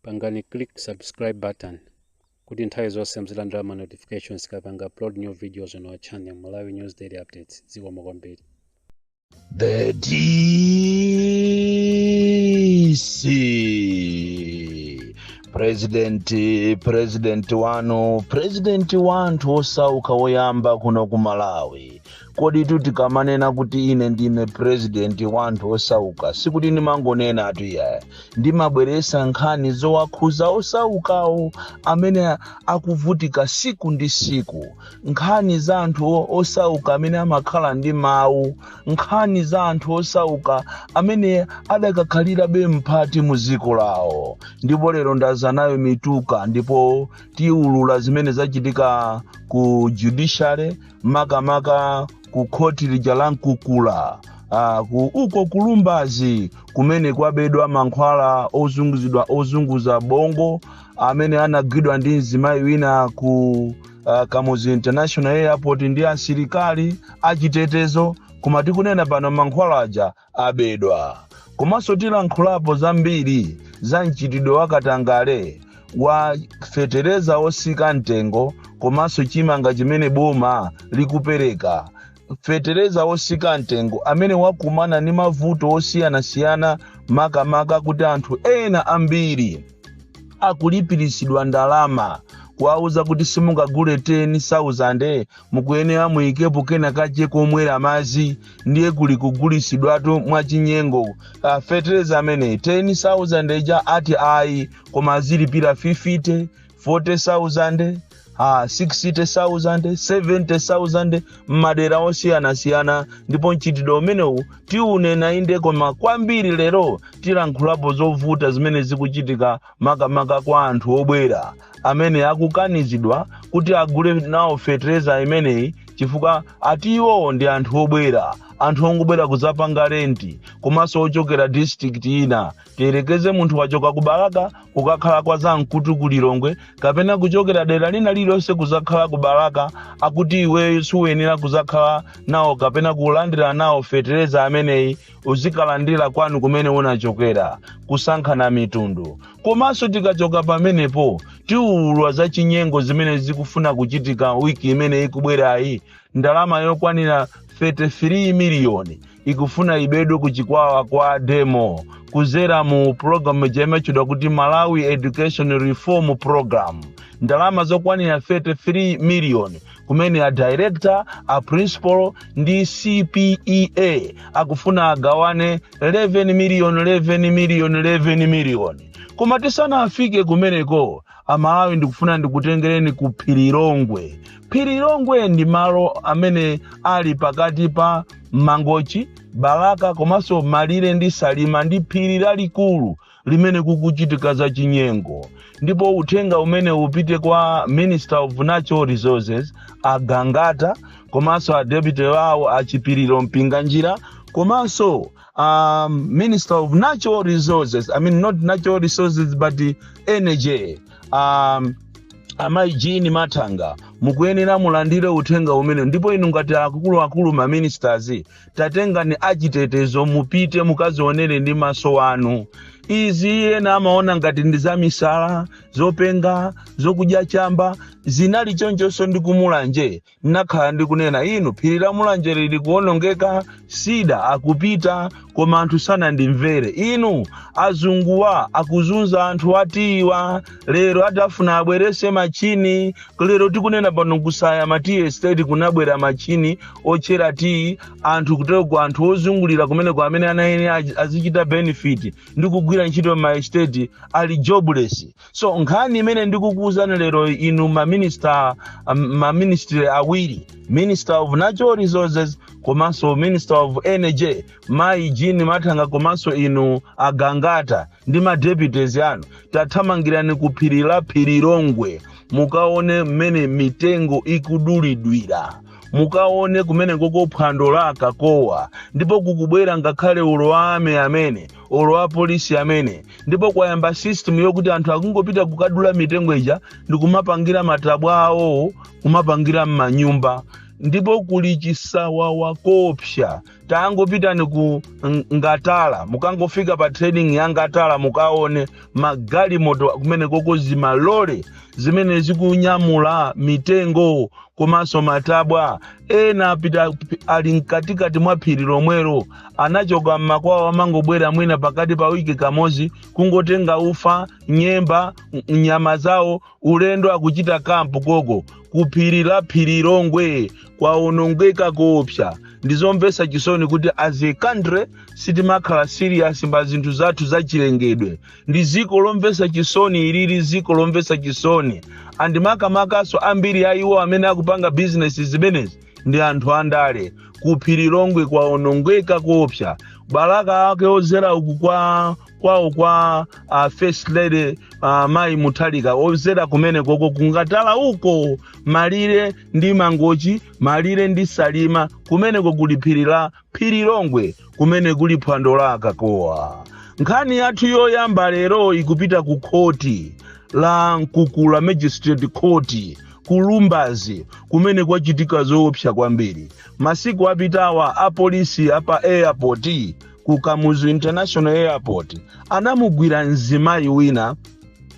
pangani click subscribe button kuti nthawi zonse muzilandira ma notifications tikapanga upload new videos on our channel malawi news daily updates zikomo kwambiri The DC. President, president wanu, president wa anthu osauka woyamba kuno ku Malawi. koditu tikamanena kuti ine ndine purezidenti wa anthu osauka sikuti ndimangonenatu iyaya ndimabweresa nkhani zowakhuza osaukawo amene akuvutika siku ndi siku nkhani za anthu o- osauka amene amakhala ndi mawu nkhani za anthu osauka amene adakakhalirabe mphati mu dziko lawo ndipo lero ndaza nayo mituka ndipo tiulula zimene zachitika ku judiciary makamaka ku khoti lija la mkukula ah, ku uko ku Lumbadzi kumene kwabedwa mankhwala ozunguzidwa ozunguza bongo amene anagwidwa ndi mzimayi wina ku uh, kamuzu international airport ndi asilikali achitetezo koma tikunena pano mankhwala aja abedwa komanso tilankhulapo zambiri za mchitidwe wa katangale wa fetereza otsika mtengo komanso chimanga chimene boma likupereka fetereza otsika mtengo amene wakumana ndi mavuto osiyanasiyana makamaka kuti anthu ena ambiri akulipiritsidwa ndalama kuwauza kuti simungagule 10,000 mukuyenera muyikepo kenakake komwera madzi ndiye kuli kugulitsidwatu mwachinyengo uh, fetereza ameneyi 10000 ija ati ayi koma azilipira 50 40000 Ah, 60,000, 70,000 m'madera osiyanasiyana ndipo mchitidwe umenewu tiunena inde koma kwambiri lero tilankhulapo zovuta zimene zikuchitika makamaka kwa anthu obwera amene akukanizidwa kuti agule nawo fetereza imeneyi chifukwa ati iwowo ndi anthu obwera anthu ongobwera kudzapanga renti komanso ochokera district ina tiyerekeze munthu wachoka ku balaka kukakhala kwa zamkutu ku lilongwe kapena kuchokera dera lina lililonse kudzakhala ku balaka akuti iweyo suyenera kudzakhala nawo kapena kulandira nawo fetereza ameneyi uzikalandira kwanu kumene unachokera kusankhana mitundu komanso tikachoka pamenepo tiulula za chinyengo zimene zikufuna kuchitika wiki imene ikubwerayi ndalama yokwanira 33 miliyoni ikufuna ibedwe ku chikwawa kwa demo kudzera mu pulogalamu ija imatchedwa kuti malawi education reform program ndalama zokwanira 33 miliyoni kumene a director a principal ndi cpea akufuna agawane 11 million 11 million 11 million koma tisanafike kumeneko amalawi ndikufuna ndikutengereni ku phirilongwe phirilongwe ndi malo amene ali pakati pa mangochi balaka komanso malire ndi salima ndi phiri lalikulu limene kukuchitika za chinyengo ndipo uthenga umenewu upite kwa minister of natural resources agangata komanso a deputy wawo a chipiliro mpinganjira komanso um, minister of natural resources i mean not natural resources but energy um, amayi jean mathanga mukuyenera mulandire uthenga umenewu ndipo inu ngati akuluakulu ma ministers tatengani achitetezo mupite mukazionere ndi maso anu izi ena amaona ngati ndi zamisala zopenga zokudya chamba zinali chonchonso ndi kumulanje nakhala ndikunena inu phiri la mulanje lili kuonongeka cedar akupita koma anthu sanandimvere inu azunguwa akuzunza anthu a tiyiwa lero ati afuna abwerese machini lero tikunena pano ku side ya ma tiyi estate kunabwera machini otchera tiyi anthu kutereko anthu ozungulira kumeneko amene amayenera azi- azichita benefit ndi kugwira ntchito m'ma estate ali jobless so nkhani imene ndikukuwuzani lero inu maminista maministry awiri minister of natural resources komanso minister of energy mayi jean mathanga komanso inu agangata ndi ma deputies anu tathamangirani ku phiri la phirilongwe mukaone mmene mitengo ikudulidwira mukaone kumeneko ko phwando la akakowa ndipo kukubwera ngakhale olo a army amene olo a polisi amene ndipo kwayamba system yokuti anthu akungopita kukadula mitengo ija ndi kumapangira matabwa awowawo kumapangira m'manyumba ndipo kuli chisawawa choopsa tangopitani ku Ng- ngatala mukangofika pa trading ya ngatala mukaone magalimoto kumeneko ko zimalole zimene zikunyamula mitengo komanso matabwa ena apita ali mkatikati mwa phiri lomwero anachoka mmakwawo amangobwera mwina pakati pa wiki kamodzi kungotenga ufa nyemba n- nyama zawo ulendo akuchita kampu koko ku phiri la phirilongwe kwaonongeka koopsa ndizomvetsa chisoni kuti as a country sitimakhala serious pa zinthu zathu zachilengedwe ndi ziko lomvetsa chisoni ilili ziko lomvetsa chisoni and makamakaso ambiri a iwo amene akupanga bizinesi zimenezi ndi anthu andale ku phirilongwe kwaonongeka koopsa balaka ake ozzera uku kwa kwawo kwa uh, first lady uh, mayi mutharika odzera kumene koko kungatala uko malire ndi mangochi malire ndi salima kumeneko kuli phiri la phiri longwe kumene kuli phwando la akakowa nkhani yathu yoyamba lero ikupita ku khoti la mkukula magistrate court kulumbazi kumene kwachitika zoopsa kwambiri masiku apitawa apolisi apa airport ku kamuzu international airport anamugwira mzimayi wina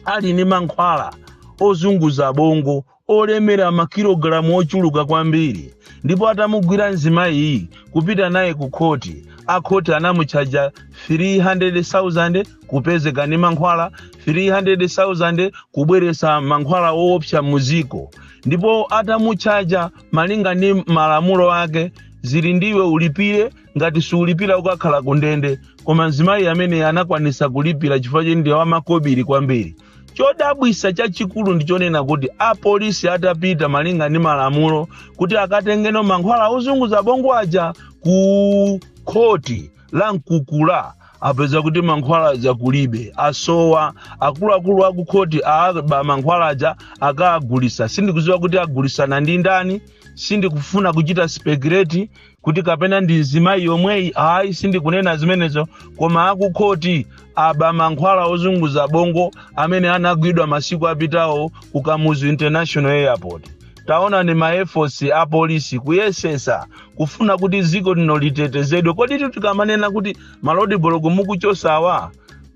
ali ndi mankhwala ozunguza bongo olemera makilogalamu ochuluka kwambiri ndipo atamugwira mzimayiyi kupita naye ku khoti akhoti anamutchaja 300,000 kupezeka ndi mankhwala 300,000 kubweretsa mankhwala owopsa mudziko ndipo atamutchaja malinga ndi malamulo ake zili ndiwe ulipire ngati siulipira ukakhala kundende koma mzimayi amene anakwanisa kulipira chifukwa choti ndi wamakobiri kwambiri chodabwitsa chachikulu ndichonena kuti apolisi atapita malinga ndi malamulo kuti akatengeno mankhwala ozunguza bongo aja ku khoti la mkukula apeza kuti mankhwala aja kulibe asowa akuluakulu aku khoti aba mankhwala aja akagulitsa sindikudziwa kuti agulitsana ndi ndani sindikufuna kuchita speculate kuti kapena ndi mzimayi yomweyi ayi sindikunena zimenezo koma akukhoti aba mankhwala ozunguza bongo amene anagwidwa masiku apitawo ku kamuzu international airport taonani ma efforts a polisi kuyesetsa kufuna kuti dziko lino litetezedwe kodi tu tikamanena kuti ma road block mukuchotsawa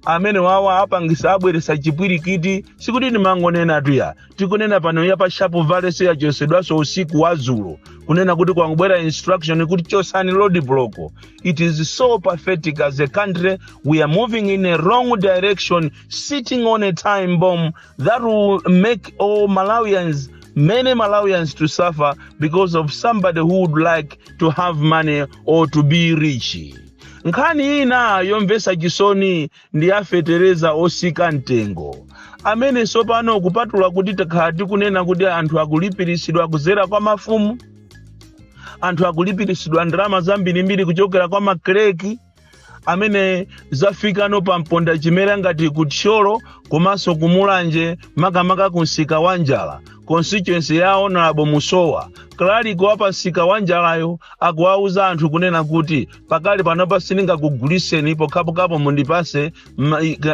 amene wawa apangitsa abweretsa chipwirikiti sikuti timangonenatu iya tikunena pano ya pa shape valley nayonso yachotsedwanso usiku wa dzulo kunena kuti kwangobwera instruction kuti chotsani road block it is so pathetic as a country we are moving in a wrong direction sitting on a time bomb that will make all malawians many malawians to suffer because of somebody who would like to have money or to be rich nkhani ina yomvetsa chisoni ndi ya fetereza otsika mtengo amene tsopano kupatula kuti takhala tikunena kuti anthu akulipiritsidwa kudzera kwa mafumu anthu akulipiritsidwa ndalama zambirimbiri kuchokera kwa makalaliki amene zafikano pa mponda chimera ngati ku thyolo komanso ku mulanje makamaka ku msika wa njala constituency ya honorable musowa kalaliki wa pa msika wa njalayo akuwauza anthu kunena kuti pakali panopa sindingakugulitseni pokhapokhapo mundipatse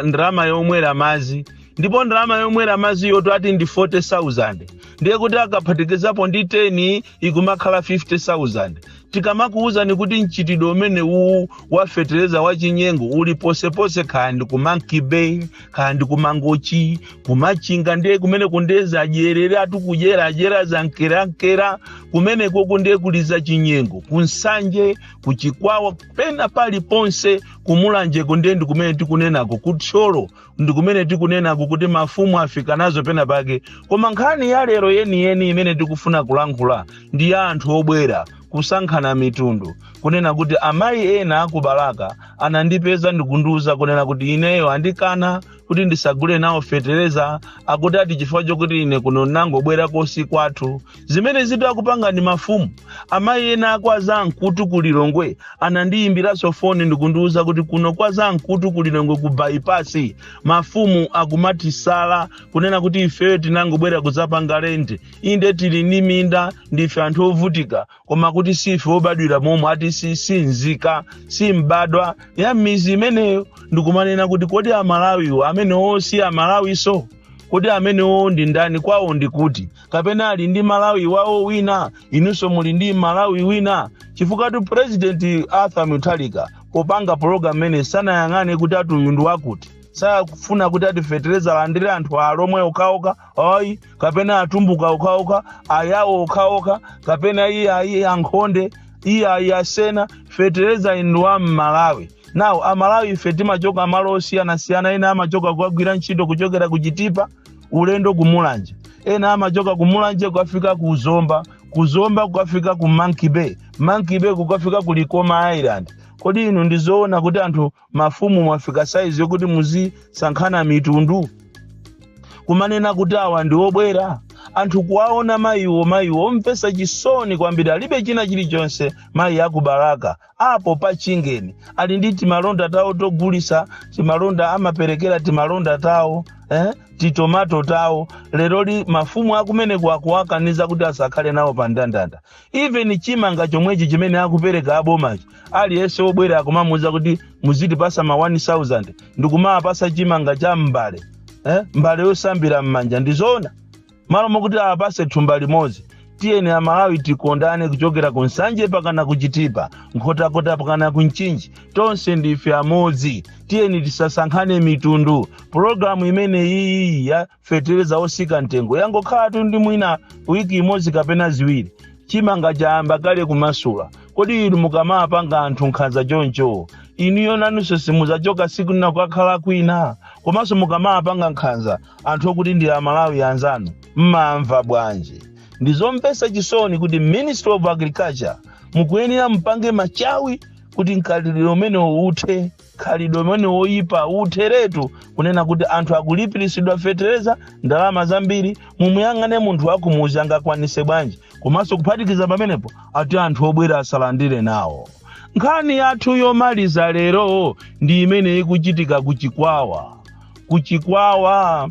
ndalama yomwera madzi ndipo ndalama yomwera madzi yoti ati ndi 40000 ndiye kuti akaphatikizapo ndi 10 ikumakhala 50000 tikamakuwuzani kuti mchitidwe umene uwu wafetereza wachinyengo uli ponseponse kaya ndi ku monkey bay kaya ndi kumangochi kumachinga ndiye kumeneko ndiye zadyereratu kudyeradyera zankerankera kumenekoko ndiye kuli za chinyengo kunsanje kuchikwawa pena pali ponse kumulanjeko ndiye ndi kumene tikunenako kuthyolo ndi kumene tikunenako kuti mafumu afika nazo pena pake koma nkhani ya lero yeniyeni imene tikufuna kulankhula ndi ya anthu obwera kusankhana mitundu kunena kuti amayi ena akubalaka anandipeza ndikundiuza kunena kuti ineyo andikana kuti ndisagule nawo fetereza akuti ati chifukwa chokuti ine kuno ndinangobwera kosi kwathu zimene izitu akupanga ndi mafumu amayi ena akwa zamkutu ku lilongwe anandiyimbiranso foni ndikundiuza kuti kuno kwa zamkutu ku lilongwe ku bypass mafumu akumatisala kunena kuti ifeyo tinangobwera kudzapanga lendi inde tili ndi minda ndife anthu ovutika koma kuti sife obadwira momwemo ati si nzika si mbadwa ya m'midzi imeneyo ndikumanena kuti kodi amalawiwo amenewo si amalawinso kodi amenewo ndi ndani kwawo ndi kuti kapena ali ndi malawi wawo wina inunso muli ndi malawi wina chifukwatu purezidenti arthur mutharika popanga pologamu imene sanayang'ane kuti ati uyu ndi wakuti sakufuna kuti ati fetereza alandire anthu alomwe okhaokha ayi kapena atumbuka okhaokha ayawo okhaokha kapena iye ayi ankhonde iye ayi asena fetereza uyu ndi wa mmalawi now amalawi ife timachoka malo osiyanasiyana ena amachoka kukagwira ntchito kuchokera ku chitipa ulendo ku mulanje ena amachoka ku mulanje kukafika ku zomba ku zomba kukafika ku monkey bay monkey bay kukafika ku likoma island kodi inu ndizoona kuti anthu mafumu mwafika saizi yokuti muzisankhana mitundu kumanena kuti awa ndi obwera anthu kuwaona mayiwo mayiwo omvetsa chisoni kwambiri alibe china chilichonse mayi akubalaka apo pa chingeni ali ndi timalonda tawo togulitsa timalonda amaperekera timalonda tawo eh? titomato tawo leroli mafumu akumeneko akuwakaniza kuti asakhale nawo pa ndandanda even chimanga chomwechi chimene akupereka abomachi aliyense wobwera akumamuuza kuti muzitipatsa ma 1000 ndikumawapatsa chimanga cha m'mbale eh? mbale yosambira m'manja ndizoona malo mokuti awapatse thumba limodzi tiyeni amalawi tikondane kuchokera ku nsanje pakana ku chitipa nkhotakota pakana ku mchinji tonse ndife amodzi tiyeni tisasankhane mitundu pologalamu imene iyi ya fetereza osika mtengo yangokhalatu ndi mwina wiki imodzi kapena ziwiri chimanga chayamba kale kumasula kodi inu mukamapanga anthu nkhanza choncho inuyo nanunso simudzachoka siku lina kukakhala kwina komanso mukamapanga nkhanza anthu okuti ndi amalawi anzanu mumamva bwanji ndizomvetsa chisoni kuti ministry of agriculture mukuyenera mupange machawi kuti mkhalidwe umenewo uthe khalidwe limeneli loyipa utheretu kunena kuti anthu akulipiritsidwa fetereza ndalama zambiri mumuyang'ane munthu wakumuzi angakwanise bwanji komanso kuphatikiza pamenepo ati anthu obwera asalandire nawo nkhani yathu yomaliza lero ndi imene ikuchitika kuchikwawa kuchikwawa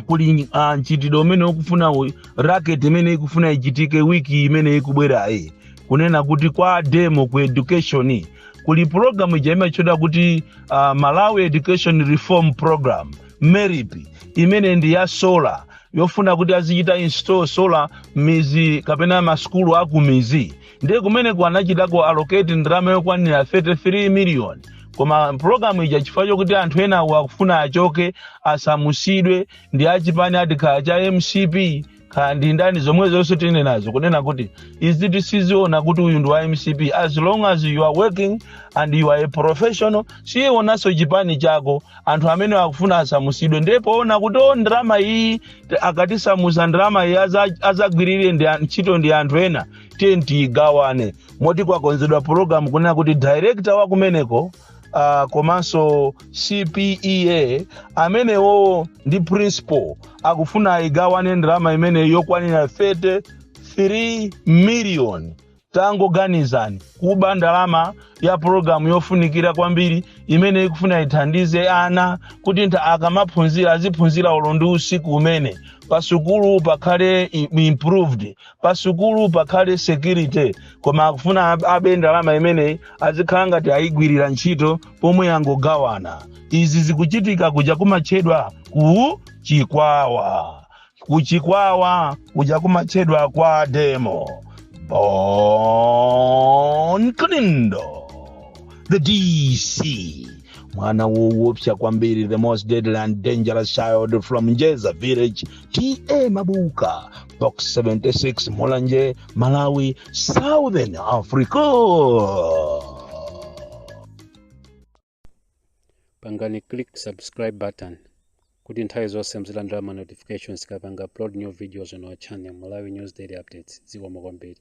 kuli uh, mchitidwe umene ukufuna u- racket imene ikufuna ichitike wiki imene ikubwerayi kunena kuti kwa DEM ku education kuli pulogalamu ija imatchedwa kuti uh, malawi education reform program MERIP imene ndi ya sola yofuna kuti azichita install sola m'mizi kapena masukulu akumizi ndiye kumeneko anachitako allocate ndalama yokwanira 33 miliyoni koma pulogalamu ija chifukwa chokuti anthu enawo akufuna achoke asamusidwe ndi achipani ati kaya cha MCP kaya ndi ndani zomwezonse tine nazo kunena kuti izi tisaziona kuti uyu ndi wa MCP as long as you are working and you are a professional sitionanso chipani chako anthu amene akufuna asamusidwe ndiye poona kuti o ndalama iyi t- akatisamusa ndalama iyi aza- azagwirire ndi an- ntchito ndi anthu ena tiye tiyigawane moti kwakonzedwa pulogalamu kunena kuti director wakumeneko uh, komanso CPEA amenewo ndi principal akufuna igawane ndalama imeneyi yokwanira 33 million tangoganizani kuba ndalama ya pulogalamu yofunikira kwambiri imene ikufuna ithandize ana kuti ntha akamaphunzira aziphunzira olo ndi usiku umene pasukulu pakhale i- improved pasukulu pakhale security koma akufuna ab- abe ndalama imeneyi azikhala ngati ayigwirira ntchito pomwe angogawana izi zikuchitika kuja kumatchedwa ku chikwawa ku chikwawa kuja kumatchedwa kwa DEM Bon Kalindo the DC mwana wowopsa kwambiri the most deadly and dangerous child from njeza village TA Mabuka box 76 mulanje malawi southern africa pangani click subscribe button kuti nthawi zonse muzilandira ma notifications tikapanga upload new videos on our channel malawi news daily updates zikomo kwambiri